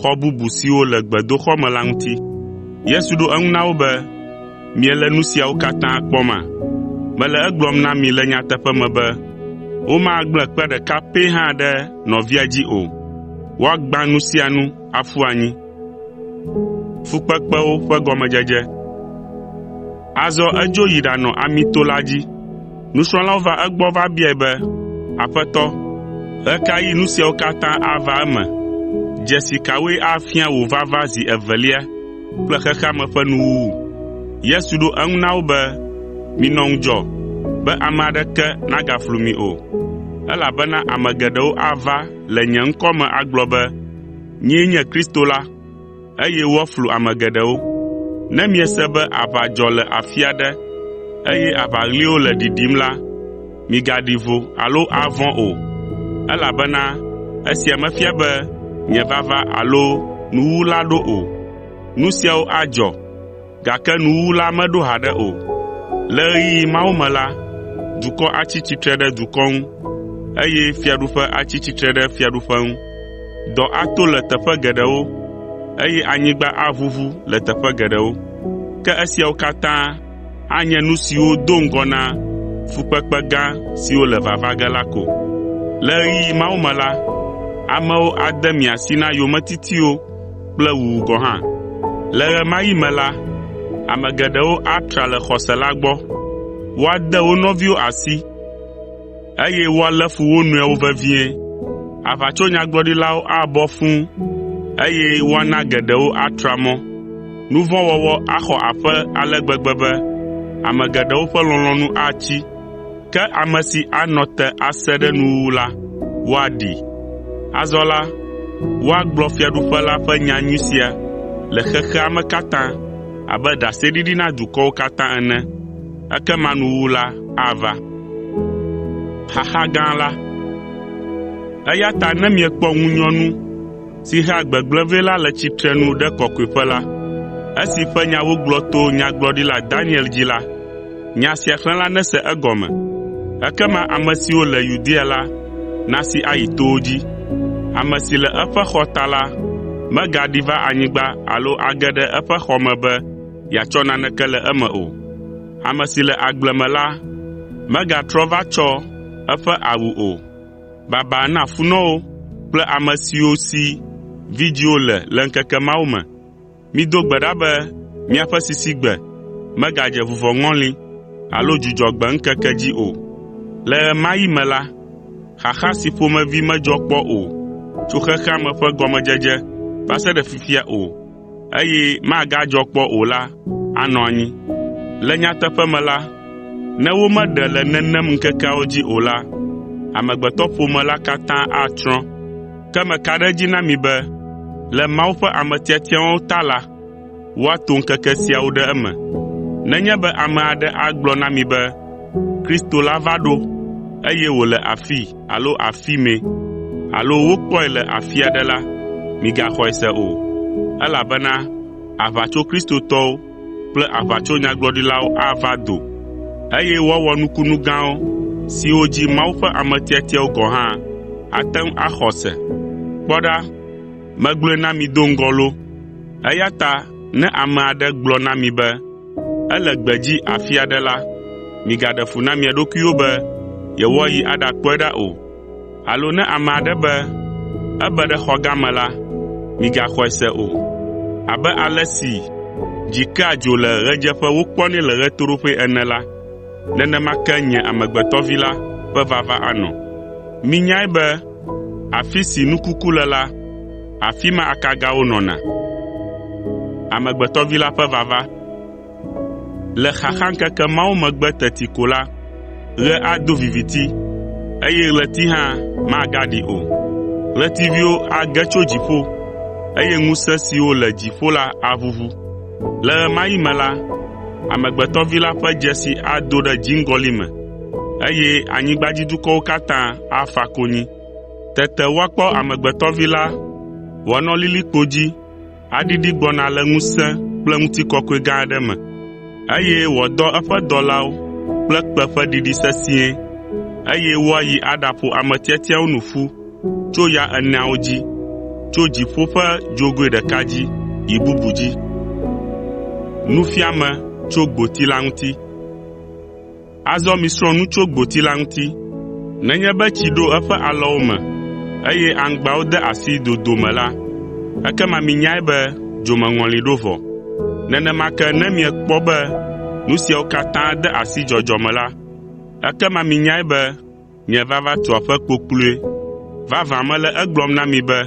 xɔ bubu siwo le gbedoxɔ me la ŋuti. Yesu ɖo eŋu na wo be, “Miele nu siawo katã kpɔma? Mele egblɔm na mi le nyateƒe me be, womagblẽ kpe ɖeka pɛ hã ɖe nɔvia dzi o. Woagbã nu sia nu aƒu anyi.” Azɔ edzo yi ɖanɔ Amito la dzi. Nusrɔ̃lawo va egbɔ va biae be, “Aƒetɔ, ɣe ka ɣi nu siawo katã ava eme? Dzesi kawoe afia wò vava zi evelia kple xexea me ƒe nuwuwu?” Yesu ɖo eŋu na wo be, “Minɔ ŋudzɔ be ame aɖeke nagaflu mi o, elabena ame geɖewo ava le nye ŋkɔ me agblɔ be, ‘Nyee nye Kristo la,’ eye woaflu ame geɖewo. Ne miese be aʋa dzɔ le afi aɖe, eye aʋaɣliwo le ɖiɖim la, migaɖi vo alo avɔ̃ o, elabena esia mefia be nye vava alo nuwuwu la ɖo o. Nu siawo adzɔ, Gake nuwuwu la meɖo haɖe o. Le ɣeyiɣi mawo me la, dukɔ atsi tsitre ɖe dukɔ ŋu, eye fiaɖuƒe atsi tsitre ɖe fiaɖuƒe ŋu. Dɔ ato le teƒe geɖewo, eye anyigba aʋuʋu le teƒe geɖewo. Ke esiawo katã anye nu siwo do ŋgɔ na fukpekpe gã siwo le vava ge la ko. Le ɣeyiɣi mawo me la, amewo ade mia si na yometitiwo kple wuwu gɔ̃ hã. Le ɣe ma ɣi me la, ame geɖewo atra le xɔse la gbɔ, woade wo nɔviwo asi, eye woalé fu wo nɔewo vevie. Aʋatsonyagblɔɖilawo abɔ fũ, eye woana geɖewo atra mɔ. Nu vɔ̃ wɔwɔ axɔ aƒe ale gbegbe be ame geɖewo ƒe lɔlɔ̃nu atsi. Ke ame si anɔ te ase ɖe nuwuwu la, woaɖee. Azɔ la, woagblɔ Fiaɖuƒe la ƒe nyanyui sia le xexea me katã abe ɖaseɖiɖi na dukɔwo katã ene, ekema nuwuwu la ava. Eya ta ne miekpɔ ŋunyɔnu si hea gbegblẽ vɛ la le tsitrenu ɖe Kɔkɔeƒe la, esi ƒe nya wogblɔ to Nyagblɔɖila Daniel dzi la, Nya sia xlẽla nese egɔme. Ekema ame siwo le Yudea la nasi ayi towo dzi. Ame si le eƒe xɔ ta la megaɖi va anyigba alo age ɖe eƒe xɔ me be yeatsɔ naneke le eme o. Ame si le agble me la megatrɔ va tsɔ eƒe awu o. Baba na funɔwo kple ame siwo si vidzĩwo le le ŋkeke mawo me! Mido gbe ɖa be miaƒe sisigbe megadze vuvɔŋɔli alo Dzudzɔgbe ŋkeke dzi o. Le ɣe ma ɣi me la, xaxa si ƒomevi medzɔ kpɔ o tso xexea me ƒe gɔmedzedze va se ɖe fifia o, eye magadzɔ kpɔ o la anɔ anyi. Le nyateƒe me la, ne womeɖe le nenem ŋkekeawo dzi o la, amegbetɔƒome la katã atsrɔ̃. Ke meka ɖe edzi na mi be le Mawu ƒe ame tiatiawo ta la, woato ŋkeke siawo ɖe eme. Nenye be ame aɖe agblɔ na mi be Kristo la va ɖo, eye wòle afii alo afimɛ alo wokpɔe le afi aɖe la, migaxɔe se o, elabena aʋatsokristotɔwo kple aʋatsonyagblɔɖilawo ava do, eye woawɔ nukunu gãwo siwo dzi Mawu ƒe ame tiatiawo gɔ̃ hã ate ŋu axɔ se. Kpɔ ɖa, megblɔe na mi do ŋgɔ loo! Eya ta ne ame aɖe gblɔ na mi be ele gbedzi afi aɖe la, migaɖe fu na mia ɖokuiwo be yewoayi aɖakpɔe ɖa o. Alo ne ame aɖe be ebe ɖe xɔ gã me la, migaxɔe se o. Abe ale si dzi kea dzo le ɣedzeƒe wokpɔnɛ le ɣetoɖoƒe ene la, nenema ke nye Amegbetɔ Vi la ƒe vava anɔ. Minyae be afi si nu kuku le la, afi ma akagawo nɔna. Le xaxaŋkeke mawo megbe teti ko la, ɣe ado viviti, eye ɣleti hã magaɖi o. Ɣletiviwo age tso dziƒo, eye ŋusẽ siwo le dziƒo la aʋuʋu. Le ɣe ma ɣi me la, Amegbetɔ Vi la ƒe dzesi ado ɖe dziŋgɔli me, eye anyigbadzidukɔwo katã afa konyi. Tete woakpɔ Amegbetɔ Vi la wòanɔ lilikpo dzi aɖiɖi gbɔna le ŋusẽ kple ŋutikɔkɔe gã aɖe me, eye wòadɔ eƒe dɔlawo kple kpẽ ƒe ɖiɖi sesĩe, eye woayi aɖaƒo ame tiatiawo nu ƒu tso ya eneawo dzi, tso dziƒo ƒe dzogoe ɖeka dzi yi bubu dzi. Azɔ misrɔ̃ nu tso gboti la ŋuti. Nenye be tsi ɖo eƒe alɔwo me, eye aŋgbawo de asi dodo me la, ekema minyae be dzomeŋɔli ɖo vɔ. Nenema ke ne miekpɔ be nu siawo katã de asi dzɔdzɔ me la, ekema minyae be Nye vava tu aƒe kpokploe. Vavã mele egblɔm na mi be,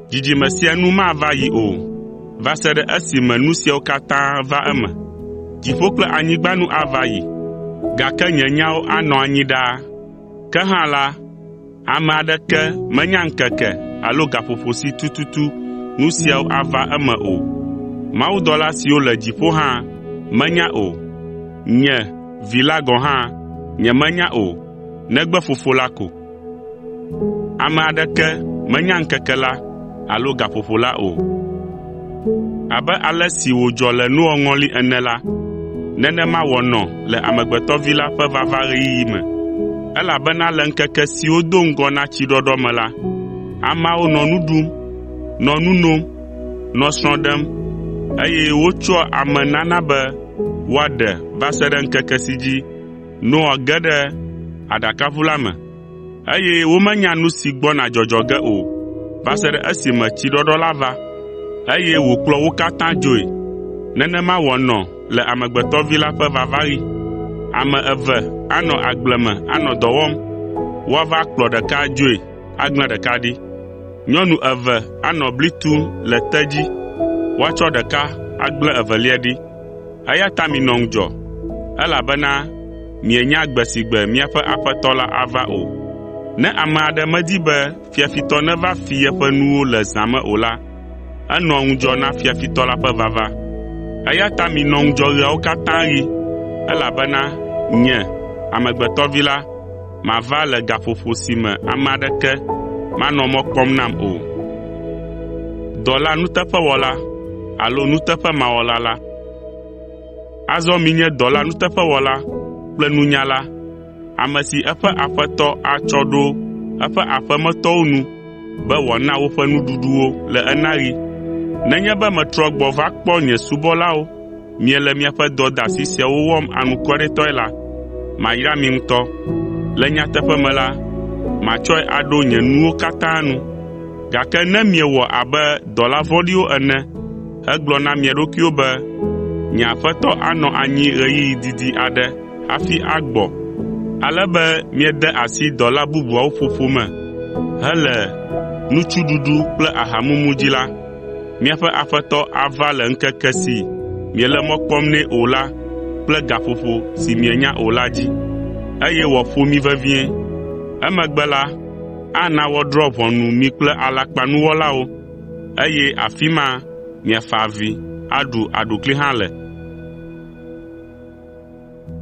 dzidzime sia nu mava yi o, va se ɖe esime nu siawo katã va eme. Dziƒo kple anyigba nu ava yi, gake nye nyawo anɔ anyi ɖaa. Ke hã la, ame aɖeke menya ŋkeke alo gaƒoƒo si tututu nu siawo ava eme o. Mawudɔla siwo le dziƒo hã menya o. Nye, Vi la gɔ̃ hã nyemenya o negbe Fofo la ko. Ame aɖeke menya ŋkeke la alo gaƒoƒo la o. Abe ale si wòdzɔ le Noa ŋɔli ene la, nenema wòanɔ le Amegbetɔ Vi la ƒe vavaɣeyiɣi me. Elabena le ŋkeke siwo do ŋgɔ na tsiɖɔɖɔ me la, ameawo nɔ nu ɖum, nɔ nu nom, nɔ srɔ̃ ɖem, eye wotsɔa ame nana be woaɖe va se ɖe ŋkeke si dzi Noa ge ɖe aɖakaʋu la me, eye womenya nu si gbɔna dzɔdzɔ ge o va se ɖe esime tsiɖɔɖɔ la va, eye wòkplɔ wo katã dzoe. Nenema wòanɔ le Amegbetɔ Vi la ƒe vavaɣi. Ame eve anɔ agble me anɔ dɔ wɔm. Woava kplɔ ɖeka adzoe, aglã ɖeka ɖi? Nyɔnu eve anɔ bli tum le te dzi, woatsɔ ɖeka agblẽ evelia ɖi. Eya ta minɔ ŋudzɔ, elabena mienya gbe si gbe miaƒe Aƒetɔ la ava o. Ne ame aɖe medi be fiafitɔ neva fi yeƒe nuwo le zã me o la, enɔa ŋudzɔ na fiafitɔ la ƒe vava. Eya ta minɔ ŋudzɔ ɣeawo katã ɣi, elabena Nye, Amegbetɔ Vi la, mava le gaƒoƒo si me ame aɖeke manɔ mɔ kpɔm nam o. Dɔla nuteƒewɔla alo nuteƒemawɔla la. Azɔ minye dɔla nuteƒewɔla kple nunyala, ame si eƒe aƒetɔ atsɔ ɖo eƒe aƒemetɔwo nu be wòana woƒe nuɖuɖu wo le enaɣi. Nenye be metrɔ gbɔ va kpɔ nye subɔlawo miele miaƒe dɔdeasi siawo wɔm anukwaretɔe la, mayra mi ŋutɔ. Le nyateƒe me la, matsɔe aɖo nye nuwo katã nu. Gake ne miewɔ abe dɔla vɔ̃ɖiwo ene hegblɔ na mia ɖokuiwo be, “Nye aƒetɔ anɔ anyi ɣeyiɣi didi aɖe hafi agbɔ,” ale be miede asi dɔla bubuawo ƒoƒo me hele nutsuɖuɖu kple ahamumu dzi la, Míaƒe Aƒetɔ ava le ŋkeke si miele mɔ kpɔm nɛ o la kple gaƒoƒo si mienya o la dzi, eye wòaƒo mi vevie. Emegbe la, ana woadrɔ̃ ʋɔnu mi kple alakpanuwɔlawo, eye afi ma miafa avi, aɖu aɖukli hã le.